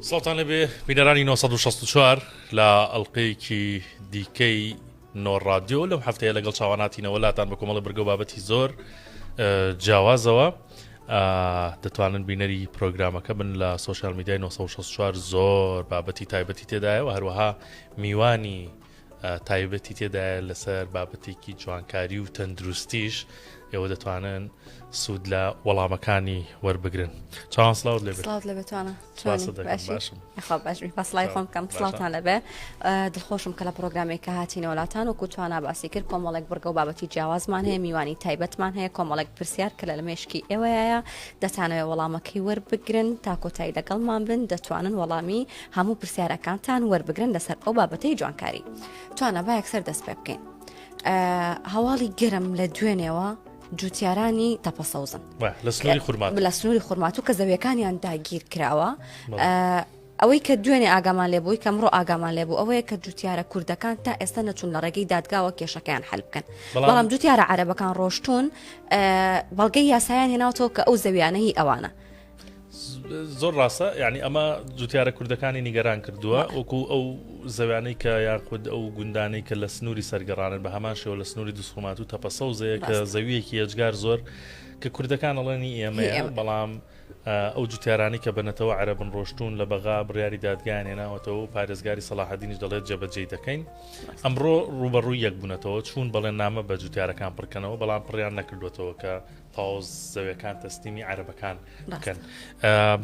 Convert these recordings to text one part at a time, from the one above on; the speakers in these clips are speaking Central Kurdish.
سڵتان لەبێ بینەرانی 1964 لە ئەلقەیەکی دیکەی نۆڕادیۆ لەم هەفتەیە لەگەڵ چاواناتینەوە لاتان بە کۆمەڵە برگە بابەتی زۆر جیاوازەوە دەتوانن بینەری پرۆگرامەکە بن لە سوۆشال میدیای 1964 زۆر بابەتی تایبەتی تێدایەوە هەروەها میوانی تایبەتی تێدایە لەسەر بابەتێکی جوانکاری و تەندروستیش ئێوە دەتوانن سوود لە وەڵامەکانی وەربگرن چاوان سلااوت لێ سلااوت لە بتوانە بەسڵای خۆم کەم سلااوان لەبێ دڵخۆشم کە لە پرۆگرامێک کە هاتی نەوەلاتان و کوتوانە باسی کرد کۆمەڵێک بڕگە و بابەتی جیاوازمان هەیە میوانی تایبەتمان هەیە کۆمەڵێک پرسیار کە لە مێشکی ئێوەیە دەتانەوێ وەڵامەکەی وەربگرن تا کۆتایی لەگەڵمان بن دەتوانن وەڵامی هەموو پرسیارەکانتان وەربگرن لەسەر ئەو بابەتەی جوانکاری توانە با یەکسەر دەست پێ بکەین هەواڵی گەرم لە دوێنێەوە جوتیارانی تەپە سەوزن لە سنووری خورمات لە سنووری خورمات و کە زەویەکانیان داگیر کراوە ئەوەی کە دوێنێ ئاگامان لێ بووی کەمڕۆ ئاگامان لێ بوو ئەوەیە کە جوتیارە کوردەکان تا ئێستا نەچون لە ڕێگەی دادگاوە کێشەکەیان حل بکەن بەڵام جوتیارە عربەکان ڕۆشتون بەڵگەی یاسایان هێناوتەوە کە ئەو زەویانەی ئەوانە زۆر ڕاستە یعنی ئەمە جوتیارە کوردەکانی نیگەران کردووە وەکو ئەو زەویانەی کە یاخود ئەو گوندانەی کە لە سنووری سەرگەڕانن بە هەمان شێوە لە سنووری دوسخۆمات و تەپەسەوزەیە کە زەویەکی ئەجگار زۆر کە کوردەکان ئەڵێنی ئێمە بەڵام ئەو جوتیارانی کە بنەتەوە عربن ڕۆشتون لە بەغا بڕیاری دادگایان هێناوەتەوە پارێزگاری سەلاحدینیش دەڵێت جێبەجێ دەکەین ئەمڕۆ ڕوبەڕووی یەک بوونەتەوە چوون بەڵێن نامە بە جوتیارەکان پڕکەنەوە بەڵام پڕیان نەکردوێتەوە کە تاوز زەویەکان تەسلیمی عربەکان بکەن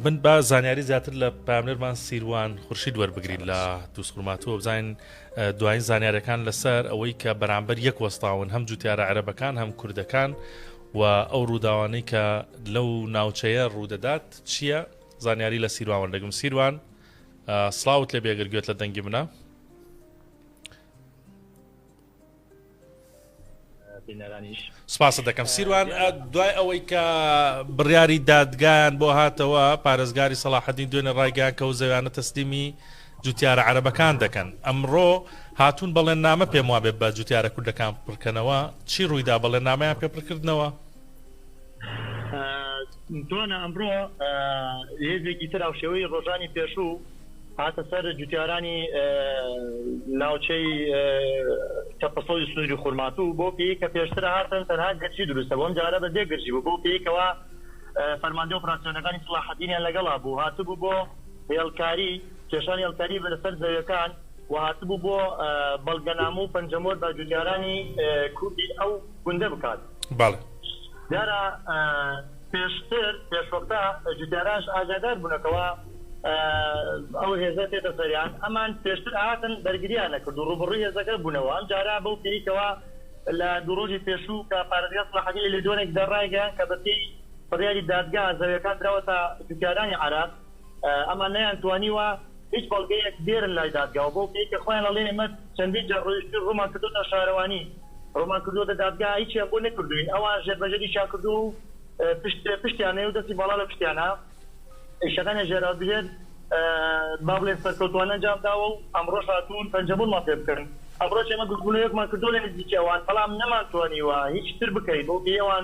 من با زانیاری زیاتر لە پامنەرمان سیروان خورشید وەربگرین لە دووسخورماتوە بزانین دوایین زانیارەکان لەسەر ئەوەی کە بەرامبەر یەک وەستاون هەم جوتیارە عربەکان هەم کوردەکان و ئەو ڕووداوانەی کە لەو ناوچەیە ڕوودەدات چییە زانیاری لە سیروان دەگم سیروان سلااوت لە بێگەر گوێت لە دەنگی منە سپاست دەکەم سیروان، دوای ئەوەی کە بڕیاری دادگایان بۆ هاتەوە، پارێزگاری سەڵاحەدین دوێنێ ڕایگەیاند کە ئەو زەویانە تەسلیمی جوتیارە عەرەبەکان دەکەن، ئەمڕۆ هاتوون بەڵێننامە پێموابێت بە جوتیارە کوردەکان پڕکەنەوە، چی ڕوویدا بەڵێننامەیان پێ پڕکردنەوە؟ دوانە ئەمڕۆ هێزێکی تر هاوشێوەی ڕۆژانی پێشوو هاتە سەر جوتیارانی ناوچەی تەپەسەڵی سنووری خورماتوو بۆ پێی کە پێشتر هاتن تەنها گەرچی دروستە بۆم جارە بە دێ گرژی بوو بۆ پێیکەوە فەرماندە ئۆپراسسیۆنەکانی سڵاحەدینیان لەگەڵا بوو هاتبوو بۆ هێڵکاری کێشانی هێڵکاری بە لەسەر زەویەکان و هاتبوو بۆ بەڵگەنامە و پەنجەمۆر بە جوتیارانی کوردی ئەو گوندە بکات. بەڵێ. دیارە پێشتر پێشوەختە جوتیاراش ئاگادار بوونە کەوا ئەو هێزە تێتە سەریان ئەمان پێشتر هاتن بەرگریان نەکرد و ڕوبڕی هێزەکە بوونەوە ئەم جارە بەو پێیکەوە لە دوو ڕۆژی پێشوو کە پارێزگا سڵاحەدین لە دۆنێک دەڕایگەیان کە بەپێی بڕیاری دادگا زەویەکان دراوەتە جوتیارانی عێراق ئەمان نەیان توانیوە هیچ بەڵگەیەک بێرن لای دادگا و بەو پێی کە خۆیان ئەڵێن ئێمە چەندین جار ڕۆیشتوین ڕوومان کردۆتە شارەوانی ڕوومان کردۆتە دادگا هیچیان بۆ نەکردوین ئەوان ژێر بە ژێریشیان کردووە و پشت پشتیان نەیە و دەستی باڵا لە پشتیانە ئیشەکانیان ژێراوە بژێر با بڵێن سەرکەوتووانە ئەنجام داوە و ئەمڕۆش هاتوون پەنجەمۆرمان پێ بکەن ئەمڕۆش ئێمە گردبوونەوەیەکمان کردووە لە نزیکی ئەوان بەڵام نەمان توانیوە هیچ تر بکەین بەو پێی ئەوان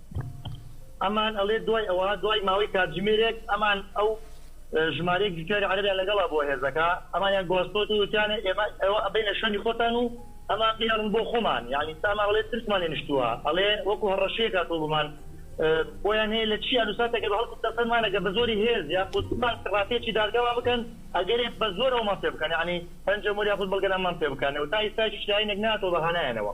ئەمان ئەڵێ دوای ئەوە دوای ماوەی کاتژمێرێک ئەمان ئەو ژمارەیەک جوتیاری عەرەبیان لەگەڵا بۆ هێزەکە ئەمانیان گواستۆتەوە وتیانە ئێمە ئێوە ئەبەینە شوێنی خۆتان و ئەمان بیهێڵن بۆ خۆمان یانی سا ئەمان ئەڵێ ترسمان لێ نیشتووە ئەڵێ وەکو هەڕەشەیەک هاتووە بۆمان بۆیان هەیە لە چی ئەنووسا تەگەر هەڵکوتە سەرمان ئەگەر بە زۆری هێز یاخود بمان کڕاپێچی دادگامان بکەن ئەگەرێ بە زۆر ئەومان پێ بکەن یانی پەنجە مۆر یاخود بەڵگەنامەمان پێ بکەن و تا ئیستایش هیچ لایەنێک نەهاتووە بە هانایانەوە.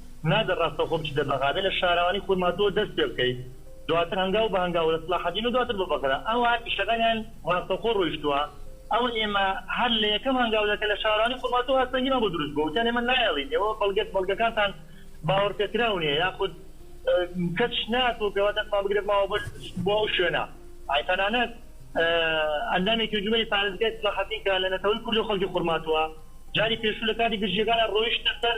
نادەر ڕاستەوخۆ بچیتە بەغادە لە شاراوانی خورماتووە دەست پێ بکەیت دواتر هەنگاو بە هەنگاو لە سڵاحەدین و دواتر بە بەغدا ئەوا ئیشەکانیان ڕاستەوخۆ ڕۆیشتووە ئەوە ئێمە هەر لە یەکەم هەنگاودا کە لە شاراوانی خورماتوو هاستەنگیمان بۆ دروست بووە وتیان ئێمە نایەڵین ئێوە بەڵگە بەڵگەکانتان باوەڕ پێکراو نییە یاخود کەچ ناتوو پێوە دەستمان بگرێت ماوە بۆ بۆ ئەو شوێنە ئای تەنانەت ئەندامێکی انجومەنی پارێزگای سڵاحەدین کە لە نەتەوەی کورد و خەڵکی خورماتووە جاری پێشوو لە کاتی گرژییەکاندا ڕۆیشتە سەر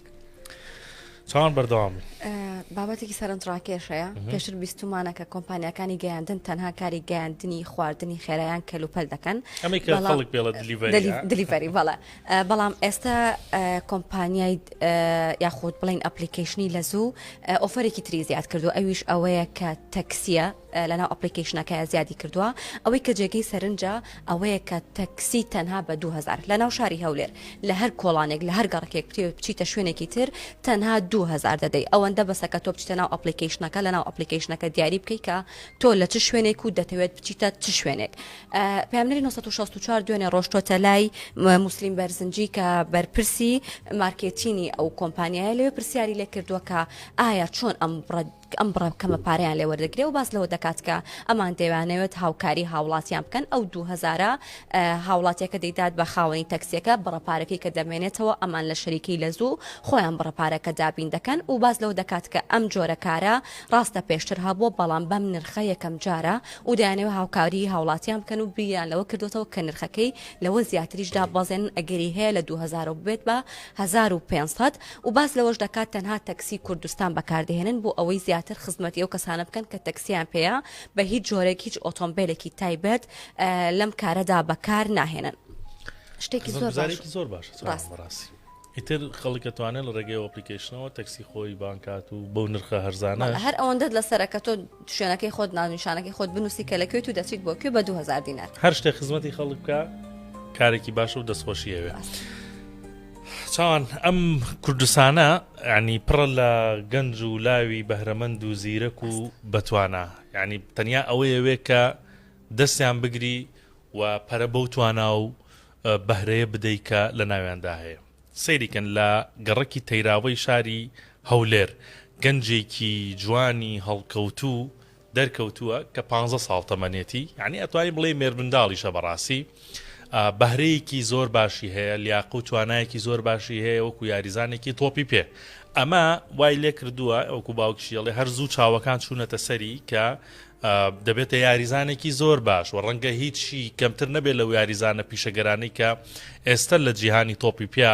چۆن بەردەوام بابەتێکی سەرنجڕاکێشەیە پێشتر بیستمانە کە کۆمپانیەکانی گەیاندن تەنها کاری گەیاندنی خواردنی خێرایان کەلوپەل دەکەن دلیڤری بەڵە بەڵام ئێستا کۆمپانیای یاخود بڵین ئەپلیکیشنی لە زوو ئۆفرێکی تری زیاد کردو ئەویش ئەوەیە کە تەکسیە لەناو ئەپڵیکەیشنەکەیا زیادی کردووە، ئەوەی کە جێگەی سەرنجە ئەوەیە کە تەکسی تەنها بە دوو هەزار لەناو شاری هەولێر لە هەر کۆڵانێک لە هەر گەڕکێک بتەوێت بچیتە شوێنێکی تر تەنها دوو هەزار دەدەی ئەوەندە بەسە کە تۆ بچیتە ناو ئەپڵیکەیشنەکە لەناو ئەپڵیکەیشنەکە دیاری بکەی کە تۆ لە چ شوێنێک و دەتەوێت بچیتە چ شوێنێک پامنەری 1964 دوێنێ ڕۆشتۆتە لای موسلیم بەرزنجی کە بەرپرسی مارکێتینی ئەو کۆمپانیایە لەوێ پرسیاری لێ کردووە کە ئایا چۆن ئەم بڕە کە ئەم بڕە کەمە پارەیان لێ وەردەگرێ و باس لەوە دەکات کە ئەمان دەیانەوێت هاوکاری هاوڵاتیان بکەن ئەو دوو هەزارە هاوڵاتیەکە دەیدات بە خاوەنی تەکسیەکە بڕە پارەکەی کە دەمێنێتەوە ئەمان لە شەریکەی لە زوو خۆیان بڕە پارەکە دابین دەکەن و باس لەوە دەکات کە ئەم جۆرە کارە ڕاستە پێشتر هەبووە بەڵام بەم نرخە یەکەم جارە و دەیانەوێت هاوکاری هاوڵاتیان بکەن و بیریان لەوە کردوتەوە کە نرخەکەی لەوە زیاتریش دابەزێنن ئەگەری هەیە لە 2000 بێت بە 1500 و باس لەوەش دەکات تەنها تەکسی کوردستان بەکاردەهێنن بۆ ئەوەی زیاتر خزمەتی ئەو کەسانە بکەن کە تەکسییان پێیە، بە هیچ جۆرێک هیچ ئۆتۆمبێلێکی تایبەت لەم کارەدا بەکار ناهێنن. شتێکی زۆر باشە. خزمەتگوزاریەکی زۆر باشە چاوان بەڕاستی. ئیتر خەڵک ئەتوانێت لە ڕێگەی ئەپلیکەیشنەوە تەکسی خۆی بانگ کات و بەو نرخە هەرزانە. بەڵێ هەر ئەوەندەت لەسەرە کە تۆ شوێنەکەی خۆت ناونیشانەکەی خۆت بنووسی کە لە کوێیت و دەچیت بۆ کوێ بە دوو هەزار دینار. هەر شتێک خزمەتی خەڵک بکا کارێکی باشە و دەستخۆشی ئەوێ. چاوان ئەم کوردستانە ینی پڕە لە گەنج و لاوی بەهرەمەند و زیرەک و بەتوانە ینی تەنیا ئەوەیەوێ کە دەستیان بگری و پەرە بەو توانا و بەهرەیە بدەیت کە لە ناویاندا هەیە سەیریکەن لە گەڕەکی تەیراوەی شاری هەولێر گەنجێکی جوانی هەڵکەوتوو دەرکەوتووە کە پانزە ساڵ تەمەنێتی یانی ئەتوانی بڵێی مێرمنداڵیشە بەڕاستی ئا بەهرەیەکی زۆر باشی هەیە لیاقە و توانایەکی زۆر باشی هەیە وەکو یاریزانێکی تۆپی پێ ئەمە وای لێکردووە وەکو باوکیشی ئەڵێ هەر زوو چاوەکان چوونەتە سەری کە ئا دەبێتە یاریزانێکی زۆر باش و ڕەنگە هیچی کەمتر نەبێت لەو یاریزانە پیشەگەرانەی کە ئێستا لە جیهانی تۆپی پیا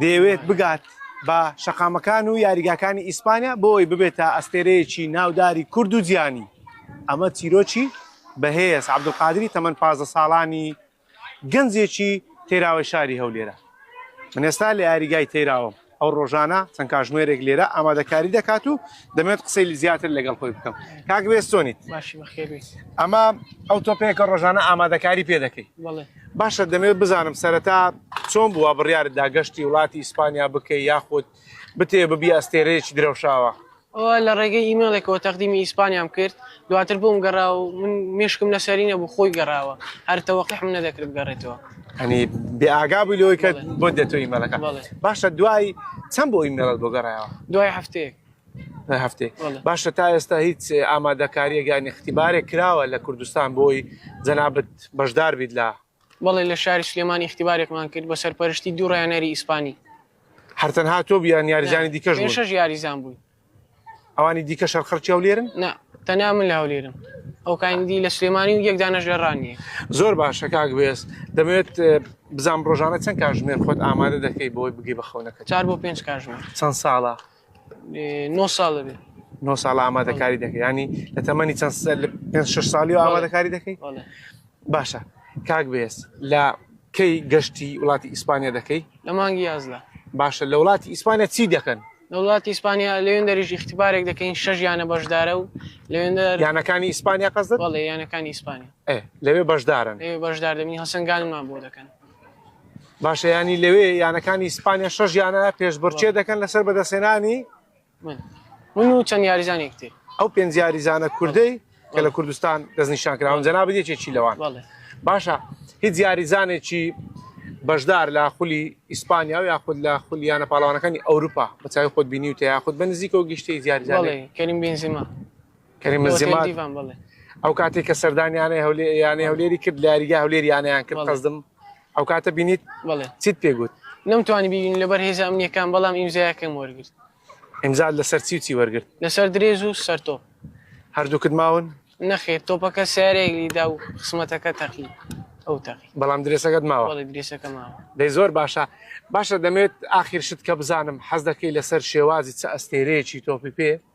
دەیەوێت بگات بە شەقامەکان و یاریگاکانی ئیسپانیا بۆی ببێتە ئەستێرەیەکی ناوداری کورد و جیانی ئەمە چیرۆکی بەهێز عەبدولقادری تەمەن پازدە ساڵانی گەنجێکی تەیراوەی شاری هەولێرە من ئێستا لە یاریگای تەیراوەم ئەو ڕۆژانە چەند کاژمێرێک لێرە ئامادەکاری دەکات و دەمێت قسەی زیاتر لەگەڵ خۆی بکەم کاک بێستۆنیت ئەمە ئەو تۆپێکە ڕۆژانە ئامادەکاری پێ دەکەیت باشە دەمەوێت بزانم سەرەتا چۆن بووە بڕیارت دا گەشتی وڵاتی ئیسپانیا بکەی یاخود بتێ ببی ئەستێرەیەکی درەوشاوە؟ ئەوە لە ڕێگەی ئیمێڵێکەوە تەقدیمی ئیسپانیام کرد دواتر بۆم گەڕا و من مشکم لەسەری نەبوو خۆی گەڕاوە هەر تەوەقحم نەدەکرد بگەڕێتەوە ئەنی بێ ئاگا بووی لەوەی کە بەڵێ. بۆ دێتەوە ئیمێلەکە بەڵێ. باشە دوای چەند بۆ ئیمێڵت بۆ گەڕایەوە دوای هەفتەیەک هەفتەی باشە تا ئێستا هیچ ئامادەکاریە گیان اختیبارێک کراوە لە کوردستان بۆی جەنابەت بەشدار بیت لە بەڵێ لە شاری سلێمانی اختیبارێکمان کرد بە سەرپەرشتی دوو ڕیانەری ئیسپانی هەرتەن هاتۆ بیان یاریزانی دیکەش شش یاریزان بووی ئەوانی دیکە شەرخەرچی و لێرن نا تەنیا من لە هەولێرم ئەو کاندی لە سلێمانی و یەکدانەش لە ڕانیە زۆر باشە کاک بێست دەمەوێت بزانام ڕۆژانە چەند کاژمێر خۆت ئامادە دەکەی بۆی بگەی بە خەونەکە چار بۆ پێنج کاژمێر چەند ساڵە نۆ ساڵ دەبێ نۆ ساڵ ئامادەکاری دەکەی ینی لە تەمەنی چەند پێ شش ساڵی و ئامادەکاری دەکەی باشە کاک بێس لە کەی گەشتی وڵاتی ئیسپانیا دەکەی لە مانگی یازدا باشە لە وڵاتی ئیسپانیا چی دەکەن لە وڵاتی ئیسپانیا لەوێن دەریش اختبارێک دەکەین شەژ یانە بەشدارە و لەوێن یانەکانی ئیسپانیا قەزدڵێ یانەکانی ئیسپانیا لەوێ بەشدارن بەشدار دەبین هەسەنگانمان بۆ دەکەن باشە ینی لەوێ یانەکانی ئیسپانیا شەژ یانە پێشبڕچێ دەکەن لەسەر بەدەسێنانی من و چەند یاریزانێکتی ئەو پێنج یاریزانە کوردەی کە لە کوردستان دەستنیشان کراون جەنا بدێکێکی لەوان باشە هیچ یاریزانێکی بەشدار لە خولی ئیسپانیا و یاخود لە خولیانە پاڵوانەکانی ئەوروپا بەچوی خۆت بینی و تیاخود بە نزیکەوە گشتی زیارزانێ کەریم بنزیما کەریم بنزیما دیڤان بڵێ ئەو کاتی کە سەردانی یانەی هەولێر یانەی هەولێری کرد لە یاریگا هەولێر یانەیان کرد بەڵێ. قەزدم ئەو کاتە بینیت بڵێ چیت پێگوت نەمتوانی ببین لەبەر هێزە ئەمنیەکان بەڵام ئیمزایەکەم وەرگرت ئیمزا لەسەر چی و چی وەرگرت لەسەر درێژ و سەرتۆ هەردووکت ماون نەخێر تۆپەکە سیارەیەک لیدا و خسمەتەکە تەقی ئەو تەقی بەڵام درێسەکەت ماوە بەڵێ درێسەکە ماوە دەی زۆر باشە باشە دەمێت ئاخیر شت کە بزانم حەز دەکەی لەسەر شێوازی چ ئەستێرەیەکی تۆپی پێ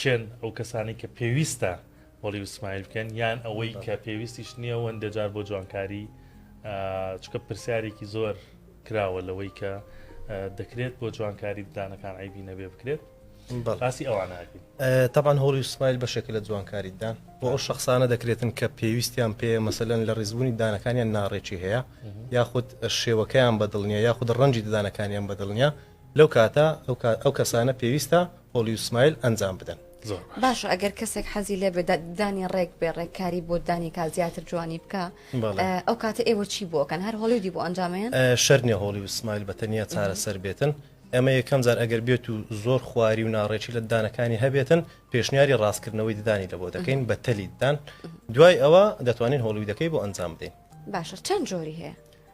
کێن ئەو کەسانەی کە پێویستە بەڵی وسمایل بکەن یان ئەوەی کە پێویستیش نییە وەندە جار بۆ جوانکاری چکە پرسیارێکی زۆر کراوە لەوەی کە دەکرێت بۆ جوانکاری ددانەکان عیبی نەبێ بکرێت باسی ئەوان تاان هۆڵی سمایل بەشێکە لە جوانکاریدان بۆ ئەو شخصانە دەکرێتن کە پێویستیان پێ مەسەلەن لە ڕیزبوونی دانەکانیان ناڕێکی هەیە یاخود شێوەکەیان بەدڵنیە یاخود ڕەنجی ددانەکانیان بەدڵنیە لەو کاتە ئەو کەسانە پێویستە هۆڵی و سمایل ئەنجام بدەن. باشە ئەگەر کەسێک حەزی لێ بێت دانی ڕێک بێ ڕێککاری بۆ دانی کا زیاتر جوانی بکە ئەو کاتە ئێوە چی بۆکەن هەر هۆڵیودی بۆ ئەنجامیان شەرنیە هۆڵی و سمایل بە تەنیا چارەسەر بێتن ئەمە یەکەم جار ئەگەر بێت و زۆر خواری و ناڕێکی لە دانەکانی هەبێتن پێشنیاری ڕاستکردنەوەی ددانی لە بۆ دەکەین بە تەلیددان دوای ئەوە دەتوانین هۆڵیودەکەی بۆ ئەنجام بدەین باشە چەند جۆری هەیە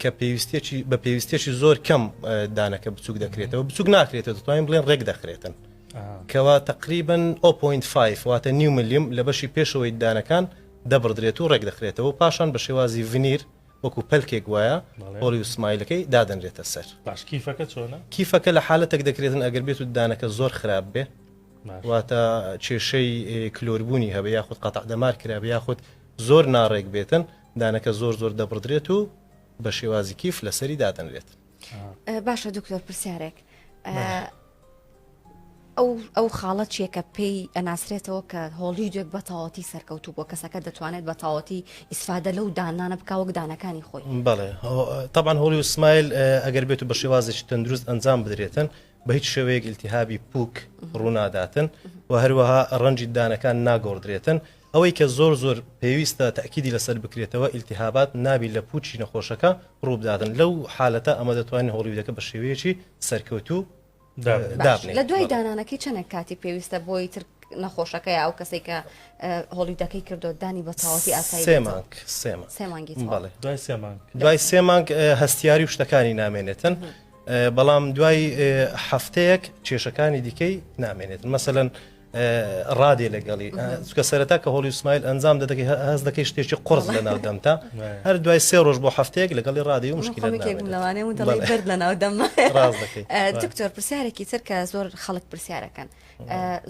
کە پێویستێکی بە پێویستێکی زۆر کەم دانەکە بچوک دەکرێتەوە بچوک ناکرێتەوە دەتوانین بڵێن ڕێک دەخرێتن کەوا تقریبن 0.5 واتە نیو ملیم لە بەشی پێشەوەی دانەکان دەبڕدرێت و ڕێک دەخرێتەوە پاشان بە شێوازی ڤنیر وەکو پەلکێک وایە هۆڵی و سمایلەکەی دادەنرێتە سەر باشکیفەکە چۆنە کیفەکە لە حالەتێک دەکرێتن ئەگەر بێت و دانەکە زۆر خراپ بێ واتە کێشەی کلۆربوونی هەبێ یاخود قەتع دەمار کرابێ یاخود زۆر ناڕێک بێتن دانەکە زۆر زۆر دەبڕدرێت و بە شێوازی کیف لەسەری دادەنرێت باشە دکتۆر پرسیارێک ئەو ئەو خاڵە چیەکە پێی ئەناسرێتەوە کە هۆڵی دوێک بە تاوەتی سەرکەوتو بۆ کەسەکە دەتوانێت بە تاوەتی ئیسفادە لەو دانانە بکە وەک دانەکانی خۆی بڵێ تاان هۆڵی و سمایل ئەگەر بێت و بە شێوازێکی تەندروست ئەنجام بدرێتن بە هیچ شێوەیەک التیهابی پوک ڕووناداتن و هەروەها ڕەنجی دانەکان ناگۆڕدرێتن ئەوەی کە زۆر زۆر پێویستە تەئکیدی لەسەر بکرێتەوە ئیلتیهابات نابی لە پووچی نەخۆشەکە ڕووبداتن لەو حالەتە ئەمە دەتوانین هۆڵیودەکە بە شێوەیەکی سەرکەوتوو دابنێین. لە دوای دانانەکەی چەنێک کاتی پێویستە بۆی تر نەخۆشەکە یا ئەو کەسێک کە هۆڵیودەکەی کردو دانی بە تاوەتی ئاسایی سێ مانگ سێ مانگ. سێ مانگی تەواو. بەڵێ. دوای سێ مانگ. دوای سێ مانگ ئێ هەستیاری و شتەکانی نامێنێتن بەڵام دوای ئێ هەفتەیەک کێشەکانی دیکەی نامێنێتن مەسەلەن ڕادێ لەگەڵی چکە سەرەتا کە هۆڵی سمایل ئەنجام دەدەکەی هەز دەکەی شتێکی قرس لە ناو دەمتا هەر دوای سێ ڕۆژ بۆ هەفتەیەک لەگەڵی ڕادی و مشکل دەرد لە ناو دەم دکتۆر پرسیارێکی تر کە زۆر خەڵک پرسیارەکەن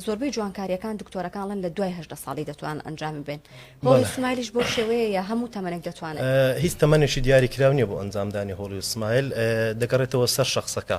زۆربەی جوانکاریەکان دکتۆرەکانڵن لە دوای هەدە ساڵی دەتوان ئەنجامی بن هۆڵی سمایلیش بۆ شێوەیە یا هەموو تەمەنێک دەتوانێت هیچ تەمەێکی دیاری کراونیە بۆ ئەنجامدانی هۆڵی سمایل دەگەڕێتەوە سەر شخصەکە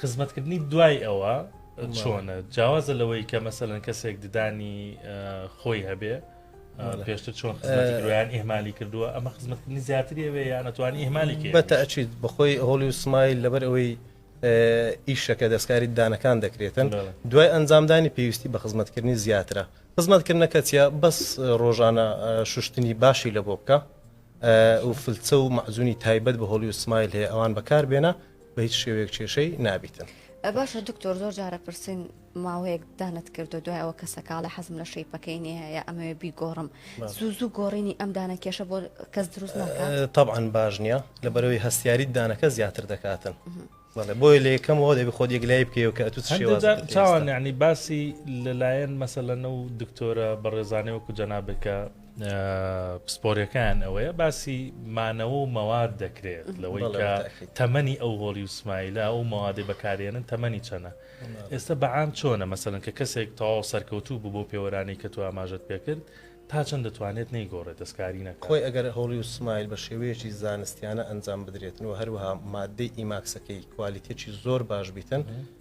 خزمەتکردنی دوای ئەوە چۆنە جیاوازە لەوەی کە مەسەەن کەسێک ددانی خۆی هەبێ پێشتر چۆن خزمەتیان ئێمالی کردووە ئەمە خزمەتکردنی زیاتریەوێ یانەتوانی ئێمالی کرد بەتەچیت بەخۆی هۆڵی و سمایل لەبەر ئەوەی ئیشەکە دەستکاری دانەکان دەکرێتن دوای ئەنجامدانی پێویستی بە خزمەتکردنی زیاترە خزمەتکردنەکە چیا بەس ڕۆژانە شوشتنی باشی لە بۆ بکە و فلچە و مەزونی تایبەت بە هۆڵی و سمایل هەیە ئەوان بەکار بێنە بە هیچ شێوەیەک کێشەی نابیتن. باشە دکتۆر زۆر جارە پرسین ماوەیەک دانت کردو دوای ئەوە کەسە کاڵە حەزم لە شەیپەکەی نیەیە ئەمەوێ بیگۆڕم زوو زوو گۆڕینی ئەم دانە کێشە بۆ کەس دروست طبعاان باش نییە لە بەرەوەی هەستیاری دانەکە زیاتر دەکاتن بۆی لە یەکەمەوە دەبی خۆ یەکلای بکەوە کە تو چاواننی باسی لەلایەن مەسەلەنە و دکتۆرە بەڕێزانەوە کو جەنابێکە پسپۆریەکەیان ئەوەیە باسی مانەوە و مەواد دەکرێت لەوەی کە تەمەنی ئەو هۆڵی و سمایلە ئەو مەوادی بەکارێنن تەمەنی چەنە ئێستا بەعام چۆنە مەسەن کە کەسێک تەواو سەرکەوتوو بوو بۆ پێوەرانی کە تو ئاماژت پێکرد تا چەند دەتوانێت نەیگۆڕێت دەستکاری نەکۆی ئەگەر هۆڵی و سمایل بە شێوەیەکی زانستیانە ئەنجام بدرێتن و هەروها مادەی ئیماکسەکەی کوالیتێکی زۆر باش بیتن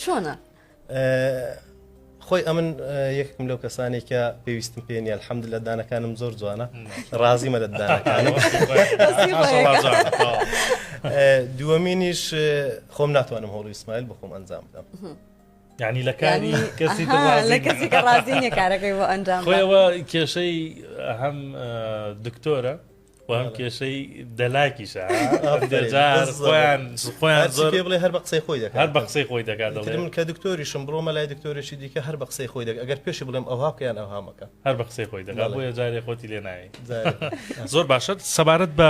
چۆنە؟ خۆی ئەمن یەکم لەو کەسانی کە پێویستم پێ نیە حەمد لە دانەکانم زۆر جوانە ڕازیمە لە دانەکانم دووەمینیش خۆم ناتوانم هۆڵی ئیسمایل بخۆم ئەنجام بدەم ینی لە کاری کەسی ڕازی کارەکەی بۆ ئەنجام خۆەوە کێشەی هەم دکتۆرە وام کێشەی دەلاکیشە خۆیان زۆر بڵێ هەر بە قسەی خۆی دەکات هەر بە قسەی خۆی دەکات من کە دکتۆریشم بڕۆ مەلای دکتۆرێکی دیکە هەر بە قسەی خۆی دەکات ئەگەر پێشی بڵێم ئەوها بکەیان ئەوهامەکە هەر بە قسەی خۆی دەکات بۆیە جارێ خۆتی لێ ناوی زۆر باشە سەبارەت بە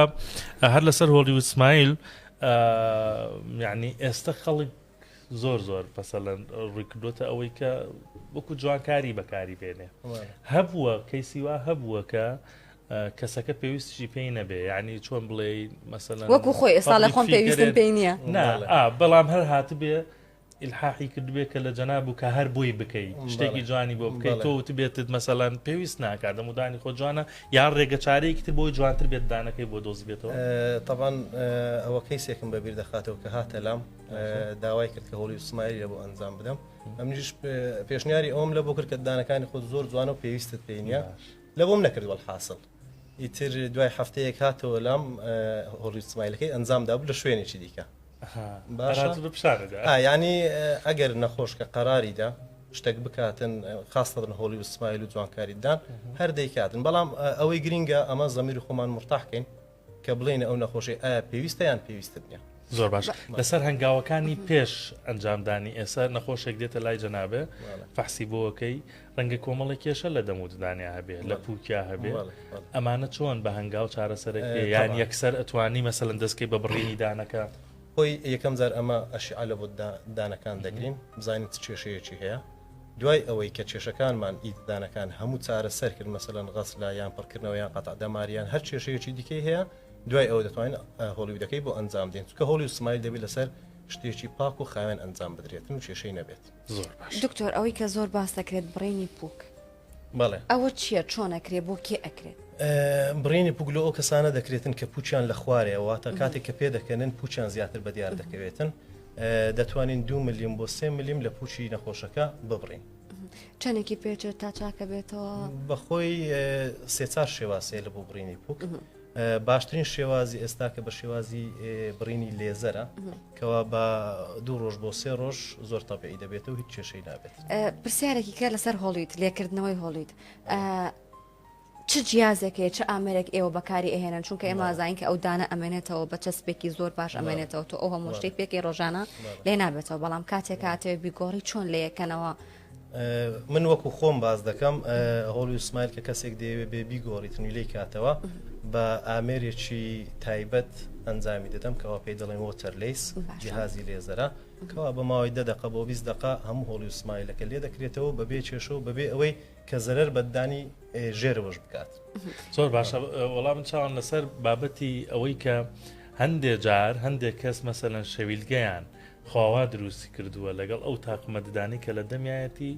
هەر لەسەر هۆڵی وسمایل یعنی ئێستا خەڵک زۆر زۆر پەسەلەن ڕووی کردوتە ئەوەی کە وەکو جوانکاری بەکاری بێنێ هەبووە کەیسیوا هەبووە کە کەسەکە پێویستیشی پێی نەبێ ینی چۆن بڵێ مەسەلەن وەکو خۆی ئێستا لە خۆم پێویستم پێی نییە نا بەڵام هەر هاتبێ الحاحی کردبێ کە لە جەناب و کە هەر بۆی بکەیت شتێکی جوانی بۆ بکەیت تۆ وت بێتت مەسەلان پێویست ناکات دە مودانی خۆ جوانە یان ڕێگە چارەیەکی تر بۆی جوانتر بێت دانەکەی بۆ دۆزبێتەوە تەبان ئەوە کەیسێکم بەبییر دەخاتەوە کە هاتە لام داوای کرد کە هۆڵی و سمایلی بۆ ئەنجام بدەم ئەمنیش پێشنیاری ئەوم لە بۆ کرد کە دانەکانی خۆ زۆر جوانە و پێویستت پێینە لە بۆم نەکردوە حاصل ئیتر دوای هەفتەیەک هاتەوە لام هۆڵی سمایلەکەی ئەنجام دابوو لە شوێنێکی دیکە ینی ئەگەر نەخۆش کە قەراریدا شتێک بکاتن خاستن هۆڵی و سمایل و جوانکاریدان هەر دەیکاتن بەڵام ئەوەی گرینگە ئەمە زەمیر خۆمان مرتاحکەین کە بڵێینە ئەو نەخۆشەی ئایا پێویستە یان پێویستت نیە. زۆر باش لەسەر هەنگاوەکانی پێش ئەنجامدانی ئێستا نەخۆشێک دێتە لای جەنابێ فەحسی بۆەکەی ڕەنگە کۆمەڵی کێشە لە دەموددانیا هەبێ لە پوکیا هەبێ ئەمانە چۆن بە هەنگاو چارەسەرەکە یان یەکسەر ئەتوانی مەسەن دەستکەی بە بڕینی دانەکە خۆی یەکەم جار ئەمە ئەشیعە لە بت دانەکان دەگرین بزانین چ کێشەیەکی هەیە دوای ئەوەی کە کێشەکانمان ئید دانەکان هەموو چارە سەر کرد مەسەن غەسلا یان پڕکردنەوە یان قەتع دەماریان هەر کێشەیەکی دیکەی هەیە دوای ئەوە دەتوانین هۆڵیودەکەی بۆ ئەنجام دێن چکە هۆڵی و سمایل دەبێت لەسەر شتێکی پاک و خاوێن ئەنجام بدرێتن و کێشەی نەبێت زۆر دکتۆر ئەوەی کە زۆر باس دەکرێت بڕینی پوک بەڵێ ئەوە چییە چۆن ئەکرێ بۆ کێ ئەکرێت؟ بڕینی پوک لۆ ئەو کەسانە دەکرێتن کە پوچیان لە خوارێ واتە کاتێک کە پێ دەکەنن پوچیان زیاتر بە دیار دەکەوێتن دەتوانین دو ملیم بۆ سێ ملیم لە پوچی نەخۆشەکە ببڕین چەندێکی پێچێت تا چاکە بێتەوە بەخۆی سێچار شێواسێ لە بۆ بڕینی پوک باشترین شێوازی ئێستا کە بە شێوازی بڕینی لێزەرە کەوا بە دوو ڕۆژ بۆ سێ ڕۆژ زۆر تەپی دەبێت و هیچ کێشەی نابێت پرسیارێکی کە لەسەر هۆڵیت لێکردنەوەی هۆڵیت چ جیازێکەیە چ ئامرێک ئێوە بەکاری ئەهێنن چونکە ئێمە زانین کە ئەو دانە ئەمێنێتەوە بە چەسپێکی زۆر باش ئەمێنێتەوە تۆ ئەو هەمۆشتەی پێکی ڕۆژانە لێ نابێتەوە بەڵام کاتێک کاتێ بیگۆڕی چۆن لەیەکەنەوە من وەکو خۆم باز دەکەم هۆڵی سمایل کە کەسێک دەیەوێ بێ بیگۆڕیت نویلەی کاتەوە بە ئامێرێکی تایبەت ئەنجامی دەدەم کەەوە پێی دەڵێن وۆتەر لیس جیهازی لێزەرە کەوا بە ماوەی دە دقە بۆ بیست دقا هەموو هۆڵی سمایلەکە لێ دەکرێتەوە بەبێ چێشەوە بەبێ ئەوەی کە زەرەر بەدانی ژێرەوەش بکات زۆر باشە وەڵام من چاوان لەسەر بابەتی ئەوەی کە هەندێ جار هەندێک کەس مەسەەن شەویلگەیان خوا وا دروستی کردووە لەگەڵ ئەو تاقمە ددانەی کە لە دەمیایەتی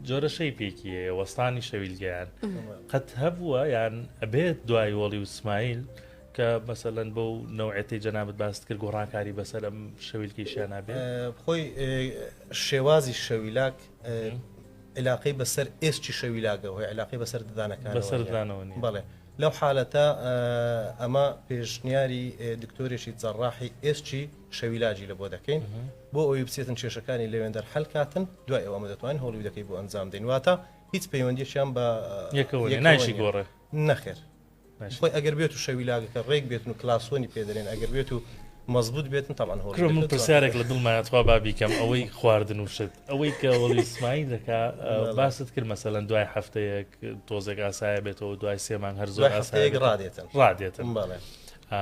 جۆرە شەیپێکی هەیە وەستانی شەویلگەیان قەت هەبووە یان ئەبێت دوای وەڵی و سمایل کە مەسەلەن بەو نەوعەتی جەنابەت باست کرد گۆڕانکاری بەسەر ئەم شەویلکیشیان نابێ خۆی شێوازی شەویلاک علاقەی بەسەر ئێستی شەویلاگە هۆی علاقی بەسەر ددانەکان بەسەر دانەوە بڵێ لەو حالەتە ئەمە پێشنیاری دکتۆرێکی جەڕاحی ئێستی شەویلاجی لەبۆ دەکەین بۆ ئەوەی بچێتن کێشەکانی لەوێندەر حەل کاتن دوای ئەوە ئەمە دەتوانین هۆڵیودەکەی بۆ ئەنجام دەین واتە هیچ پەیوەندیەکیان بە یەکەوە یەک نایشی گۆڕێ نەخێر نایشی. خۆی ئەگەر بێت و شەویلاگەکە ڕێک بێتن و کلاسۆنی پێدەێن ئەگەر بێت و مەزبوط بێتن تەمان هۆڵ کرۆ من هۆڵیودەکە پرسیارێک لە دڵمایە توا بابیکەم ئەوەی خواردن و شت ئەوەی کە وەڵی سمایی دەکا ئە، باست کرد مەسەلەن دوای هەفتەیەک تۆزێک ئاسایە بێتەوە دوای سێ مانگ هەر زۆر دوای هەفتەیەک ئاسایە ڕادێتن ڕادێتن بەڵێ ئا،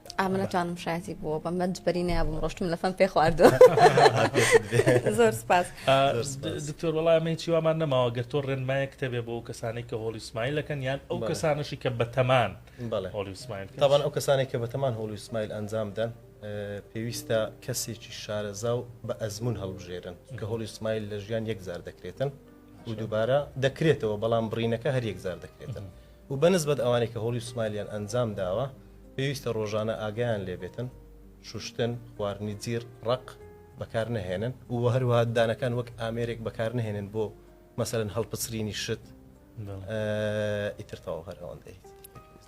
ئامە نەتوانم شایەتی بووە بە مەنج بەری نابم ڕۆشتم لە فەم پێ خواردو زۆر سپاس دکتۆر وڵای ئەمەی چیوامان نەماوە گەر تۆ ڕێنمایە کتێبێ بۆ ئەو کەسانێک کە هۆڵی سمایل لەکەن یان ئەو کەسانەشی کە بەتەمان هۆڵی سمایل تاوان ئەو کەسانێک کە بەتەمان هۆڵی سمایل ئەنجام دەن پێویستە کەسێکی شارەزا و بە ئەزمون هەڵبژێرن کە هۆڵی سمایل لە ژیان یەکزار دەکرێتن و دووبارە دەکرێتەوە بەڵام بڕینەکە هەر یەکزار دەکرێتن. و بە نسبەت ئەوانەی کە هۆڵی سمایلیان ئەنجام داوە پێویستە ڕۆژانە ئاگایان لێ بێتن شوشتن، خواردنی جیڕ، ڕەق بەکار نەهێنن و هەروەها ددانەکان وەک ئامێرێک بەکار نەهێنن بۆ مەسەلەن هەڵپچرینی شت ئیتر تەواو هەر ئەوەندەی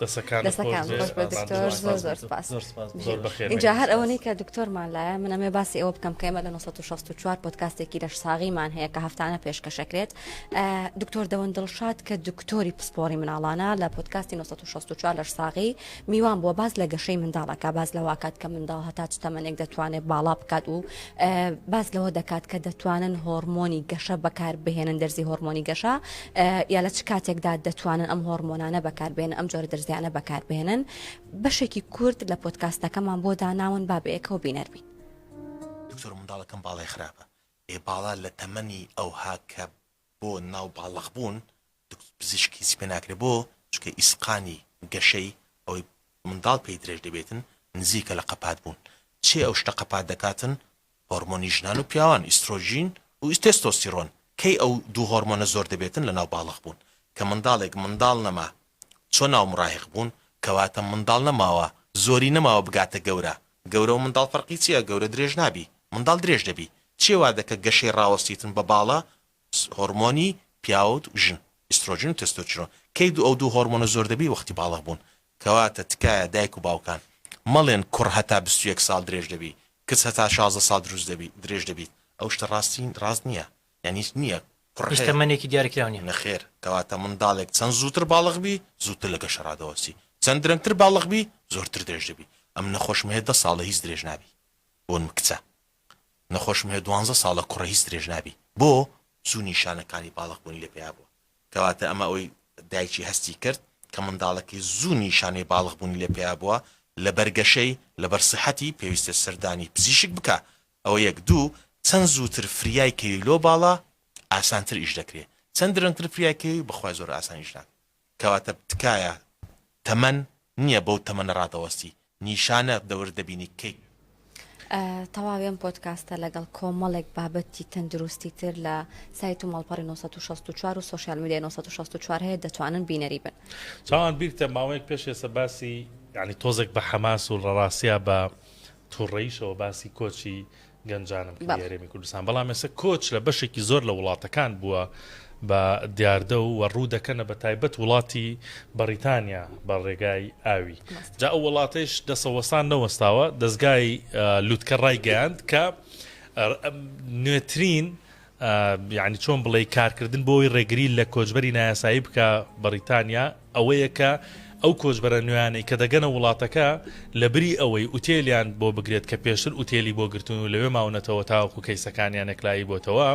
دەسەکانت دەستەکان خۆش بێت، خۆش بێت بابان، دکتۆر زۆر زۆر زۆر سپاس زۆر سپاس بۆ زۆر بەخێر ئینجا هەر ئەوەنەی کە دکتۆرمان لایە من ئەمێ باسی ئەوە بکەم کە ئێمە لە 964 پۆدکاستێکی لەشساغیمان هەیە کە هەفتانە پێشکەشەکرێت دکتۆر دەوەن دڵشاد کە دکتۆری پسپۆری مناڵانە لە پۆتکاستی 1964 لەش ساغی میوان بووە باز لە گەشەی منداڵەکە باز لە واکات کە منداڵ هەتا چ تەمەنێک دەتوانێت باڵا بکات و باز لەوە دەکات کە دەتوانن هۆرمۆنی گەشە بەکار بهێنن دەرزی هۆرمۆنی گەشە یا لە چ کاتێکدا دەتوانن ئەم هۆرمۆنانە بەکاربێن ئەم جۆرە دەرزیانە بەکاربێنن بەشێکی کورد لە پۆتکاستەکەمان بۆ داناون بابەیەکەوە بینەربین دکتۆر منداڵەکەم باڵی خراپە ئێ باڵا لە تەمەنی ئەوها کە بۆ ناو باڵخ بوون دکتۆر پزیشک هیچی پێ ناکرێ بۆ چونکە ئیسقانی گەشەی ئەوەی منداڵ پێی درێژ دەبێتن نزیکە لە قەپات بوون چێ ئەو شتە قەپات دەکاتن هۆرمۆنی ژنان و پیاوان ئیسترۆجین و تێستۆستیڕۆن کەی ئەو دوو هۆرمۆنە زۆر دەبێتن لە ناو باڵخ بوون کە منداڵێک منداڵ نەما چۆن ناو مراهیق بوون کەواتە منداڵ نەماوە زۆری نەماوە بگاتە گەورە گەورە و منداڵ فەرقی چیە گەورە درێژ نابی منداڵ درێژ دەبی چیە وادەکە گەشەی ڕاوەستیتن بە باڵە هۆرمۆنی پیاوت و ژن ئیسترۆجین و تێستۆچرۆن کەی دوو ئەو دوو هۆرمۆنە زۆر دەبی وەختی باڵغ بوون کەواتە تکایە دایک و باوکان مەڵێن کوڕ هەتا بیست و یەک ساڵ درێژ دەبی کچ هەتا شازدە ساڵ دروست دەبی درێژ دەبیت ئەو شتە ڕاستی ڕاست نیە یانیش نییە کوڕ هیچ هەیە. تەمەنێکی دیارکراو نییە. نەخێر، کەواتە منداڵێک چەند زووتر باڵغ بی، زووتر لە گەشەڕا دەوەستی، چەند درەنگتر باڵغ بی، زۆرتر درێژ دەبی. ئەم نەخۆشم هەیە دە ساڵە هیچ درێژ نابی. بۆن کچە. نەخۆشم هەیە دوانزە ساڵە کوڕە هیچ درێژ نابی. بۆ؟ چوو نیشانەکانی باڵغ بوونی لە پیا بووە. کەواتە ئەمە ئەوەی دایکی هەستی کرد کە منداڵەکەی زوو نیشانەی باڵغ بوونی لە پیا بووە لەبەر گەشەی، لەبەر سیحەتی، پێویستە سەردانی پزیشک بکا ئەوە یەک، دوو، چەند زووتر فریای کەوی لۆ باڵا ئاسانتر ئیش دەکرێ، چەند درەنگتر فریای کەوی بەخوای زۆر ئاسان ئیش ناکە. کەواتە تکایە تەمەن نیە بەو تەمەنە ڕادەوەستی، نیشانە دەورت دەبینی کەی. تەواوی ئەم پۆدکاستە لەگەڵ کۆمەڵێک بابەتی تەندروستی تر لە سایت و ماڵپەڕی نۆ سەد و شەست و چوار و سۆشیال میدیای نۆ سەد و شەست و چوار هەیە دەتوانن بینەری بن. چاوان بیرتە ماوەیەک پێش ئێستا باسی یانی تۆزێک بە حەماس و ڕەڕاسیا بە توڕەیشەوە باسی کۆچی گەنجانم کردی بەڵێ. هەرێمی کوردستان، بەڵام ئێستا کۆچ لە بەشێکی زۆر لە وڵاتەکان بووە بە دیاردە و وە ڕوودەکەنە بە تایبەت وڵاتی بەڕیتانیا بە ڕێگای ئاوی ڕاستە. جا ئەو وڵاتەیش دەسە وەستان نەوەستاوە، دەزگای لوتکە ڕایگەیاند کە نوێترین یانی چۆن بڵێی کارکردن بۆ ئەوەی ڕێگری لە کۆچبەری نایاسایی بکا بەڕیتانیا ئەوەیە کە ئەو کۆچبەرە نوێیانەی کە دەگەنە وڵاتەکە لە بری ئەوەی ئوتێلیان بۆ بگرێت کە پێشتر ئوتێلی بۆ گرتون و لەوێ ماونەتەوە تاوەکو کەیسەکانیان یەکلایی بۆتەوە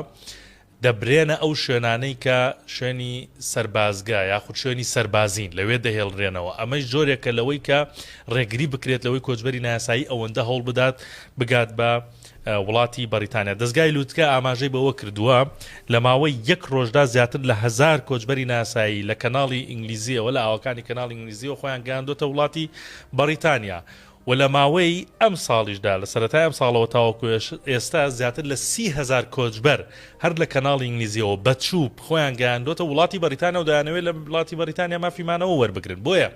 دەبرێنە ئەو شوێنانەی کە شوێنی سەربازگا یاخود شوێنی سەربازین لەوێ دەهێڵرێنەوە ئەمەش جۆرێکە لەوەی کە ڕێگری بکرێت لەوەی کۆچبەری ناسایی ئەوەندە هەوڵ بدات بگات بە وڵاتی بەڕیتانیا. دەزگای لوتکە ئاماژەی بەوەکردووە، لە ماوەی یەک ڕۆژدا زیاتر لە هەزار کۆچبەری نایاسایی لە کەناڵی ئینگلیزییەوە لە ئاوەکانی کەناڵی ئینگلیزییەوە خۆیان گەیاندووەتە وڵاتی بەڕیتانیا و لە ماوەی ئەمساڵیشدا لە سەرەتای ئەمساڵەوە تاوەکو ئێستا زیاتر لە سی هەزار کۆچبەر هەر لە کەناڵی ئینگلیزییەوە بە چووپ خۆیان گەیاندووەتە وڵاتی بەڕیتانیا و دەیانەوێت لە وڵاتی بەڕیتانیا مافی مانەوە وەربگرن بۆیە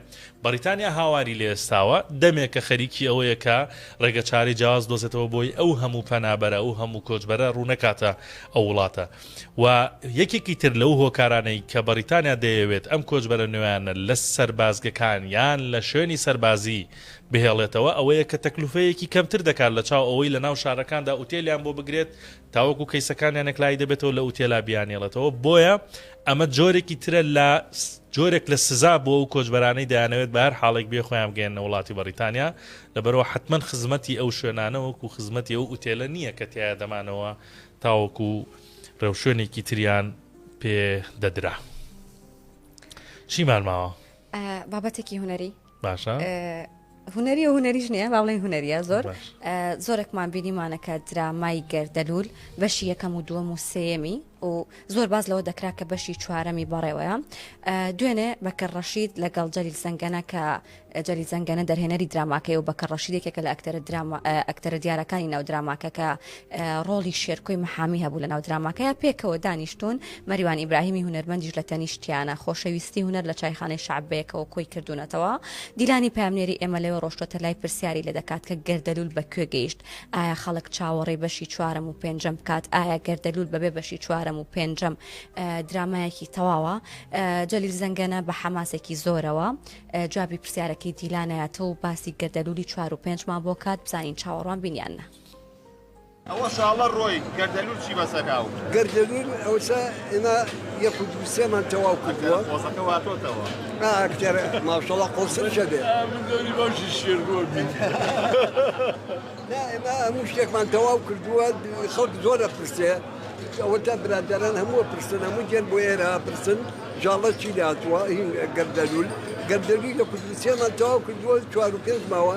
بەڕیتانیا هاواری لێستاوە، دەمێکە خەریکی ئەوەیە کە ڕێگەچارەی جیاواز بدۆزێتەوە بۆی ئەو هەموو پەنابەرە، ئەو هەموو کۆچبەرە ڕوونەکاتە ئەو وڵاتە و یەکێکی تر لەو هۆکارانەی کە بەڕیتانیا دەیەوێت ئەم کۆچبەرە نوێیانە لە سەربازگەکان یان لە شوێنی سەربازی بهێڵێتەوە ئەوەیە کە تەکلوفەیەکی کەمتر دەکات لەچاو ئەوەی لەناو شارەکاندا ئوتێلیان بۆ بگرێت تاوەکو کەیسەکانیان یەکلایی دەبێتەوە لە ئوتێلا بیانهێڵێتەوە، بۆیە ئەمە جۆرێکی ترە لە جۆرێک لە سزا بۆ ئەو کۆچبەرانەی دەیانەوێت بە هەر حاڵێک بێ خۆیان بگەیەننە وڵاتی بەڕیتانیا، لەبەرئەوە حەتمەن خزمەتی ئەو شوێنانە وەکو خزمەتی ئەو ئوتێلە نییە کە تیایا دەمانەوە تاوەکو ڕێوشوێنێکی تریان پێ دەدرا. چیمان ماوە؟ بابەتێکی هونەری؟ باشە هوەری و هوەریش نیە با بڵێن هوەریە زۆر زۆرێکمان بینیمانەکە درامای گەردەلول بەشی یەکەم و دووەم و سێمی و زۆر باز لەوە دەکرا کە بەشی چوارەمی بەڕێوەیە دوێنێ بەکە ڕەشید لەگەڵ جەلیل زەنگەنە کە جەلی زەنگەنە دەرهێنەری دراماکەی و بەکە ڕەشیدێکێکە لە ئەکتەرە ئەکتەرە دیارەکانی ناو دراماکە کە ڕۆڵی شێرکۆی محامی هەبوو لە ناو دراماکەیا پێکەوە دانیشتوون، مەریوان ئیبراهیمی هونەرمەندیش لە تەنیشتیانە، خۆشەویستی هونەر لە چایخانەی شەعب بەیەکەوە کۆی کردوونەتەوە، دیلانی پەیامنێری ئێمە لەوێ ڕۆشتووەتە لای پرسیاری لێ دەکات کە گەردەلوول بە کوێ گەیشت؟ ئایا خەڵک چاوەڕێی بەشی چوارەم و پێنجەم بکات؟ ئایا گەردەلوول بەبێ بەشی چوارەم و پێنجەم درامایەکی تەواوە؟ جەلیل زەنگەنە بە حەماسێکی زۆرەوە جوابی پرسیارەکەی دیلانایەتەوە و باسی گەردەلوولی چوار و پێنجمان بۆ کات بزانین چاوەڕوانبین یان نا. ئەوە شاڵە ڕۆی گەردەلول چی بەسە کاو. گەردەلول ئەوسا ئێمە یەک و دوو سێمان تەواو کردووە قۆزەکە واتۆتەوە نا ئەکتەرە ماشەڵا قۆسرشە بێ من دەوری باشی شێر بۆ بین نا ئێمە هەموو شتێکمان تەواو کردووە خەڵک زۆرە پرسێ ئەوە تا برادەران هەمووە پرسن هەموو جێن بۆ ئێرە پرسن ژاڵە چی لاتوە هین گەردەلول گەردەلوی لە کوردستێمان تەواو کردووە چوار و پێنج ماوە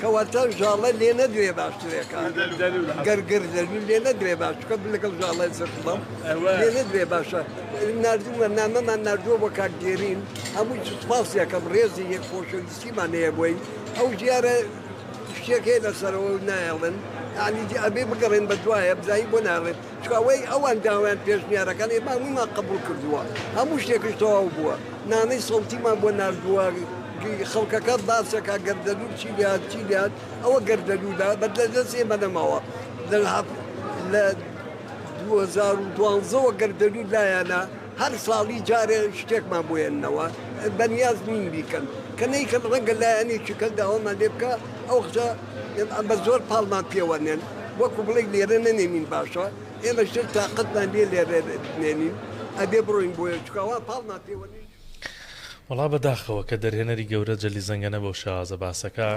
کەواتە ژاڵە لێ نەدوێ باشترە گەر گردەلوول لێ نەدوێ باش چکە لەگەڵ ژاڵە زرت بەم لێ نەدوێ باشە نردوومە نامەمان نردووە بۆ کاک دێرین هەموو سوپاس یەکەم ڕێزی یەک خۆشەویستیمان هەیە بۆی ئەو ژیارە شتێکێ لەسەرەوە نایڵن عنی ئەبێ بگەڕێن بە دوایە بزانین بۆ ناڵێت چ ئەوەی ئەوان داوایان پێشنیارەکان ئێمە هەموویمان قبوڵ کردووە هەموو شتێکش تەواو بووە نامەی سەوتیمان بۆ ناردووە گی خەڵکەکە باسەکە گەردەلوول چی لێهات چی لێهات ئەوە گەردەلوولە بەد لە دەست ئێمە نەماوە لە هەف لە 2012 وە گەردەلوول لایەنە هەر ساڵی جارێ شتێکمان بۆیەنەوە بەنیاز نین بیکەن کە نەیکەن ڕەنگە لایەنێکی کەس داوامان لێ بکا ئەو قسە ئێمە ئەمە زۆر پاڵمان پێوە نێن وەکو بڵێ لێرە نەنێنین باشە ئێمە شتر تااقەتمان لێ لێرە نێنین ئەبێ بڕۆین بۆیە چکاوا پاڵمان پێوە نێن. وەڵا بە داخەوە کە دەرهێنەری گەورە جەلی زەنگەنە بەو شێوازە باسەکە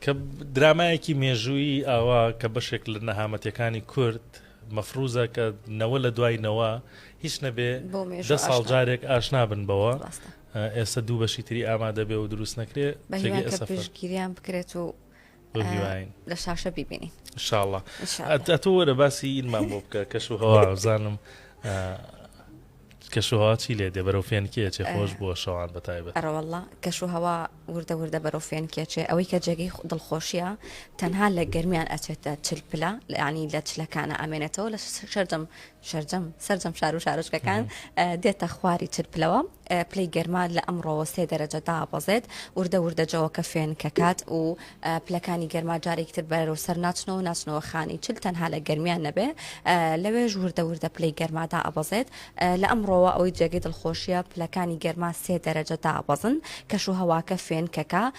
کە درامایەکی مێژووی ئاوا کە بەشێک لە نەهامەتەکانی کورد مەفروزە کە نەوە لە دوای نەوە هیچ نەبێ دە ساڵ جارێک ئاشنابن بەوە ئێستا دوو بەشی تری ئامادە بێ و دروست نەکرێ بەهیوان کە پشتگیریان بکرێت و لە شاشە بیبینین شاڵە تۆ وەرە باسی ئیلمان بۆ بکە کەش و هەوازانم کەشوهوا چی لێ دێ بەرەو فێنکێچێ خۆش بووە شەوان بە تایبەت ئەرەوەله کەشوهوا وردە وردە بەرەو فێنکێچێ ئەوەی کە جێگەی دڵخۆشیە تەنها لە گەرمیان ئەچێتە چل پلا لەعنی لە چلەکانە ئامێنێتەوە لە شەردەم شەرجەم سەرجەم شار و شارۆچکەکان دێتە خواری چل پلەوە پلەی گەرما لە ئەمڕۆوە سێ دەرەجە دابەزێت وردە وردە جەوەکە فێن کە کات و پلەکانی گەرما جارێکتر بەرەوە سەر ناچنەوە ناچنەوە خانی چل تەنها لە گەرمیان نەبێ لەوێش وردە وردە پلەی گەرمادا ئەبەزێت لە ئەمڕۆوە ئەوەی جێگەی دڵخۆشیە پلەکانی گەرما سێ دەرەجە دابەزن کەش و هەواکە فێن کەکە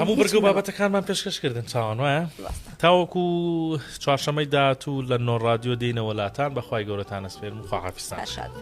هەموو بەرگە و بابەتەکانمان پێشکەش کردن چاوان وایە تاوەکو چوارشەمەی داات و لە نۆ رادیۆ دێنە وەلاتان بەخوای گەورەتانە سپێرم و خواحافستان شاد.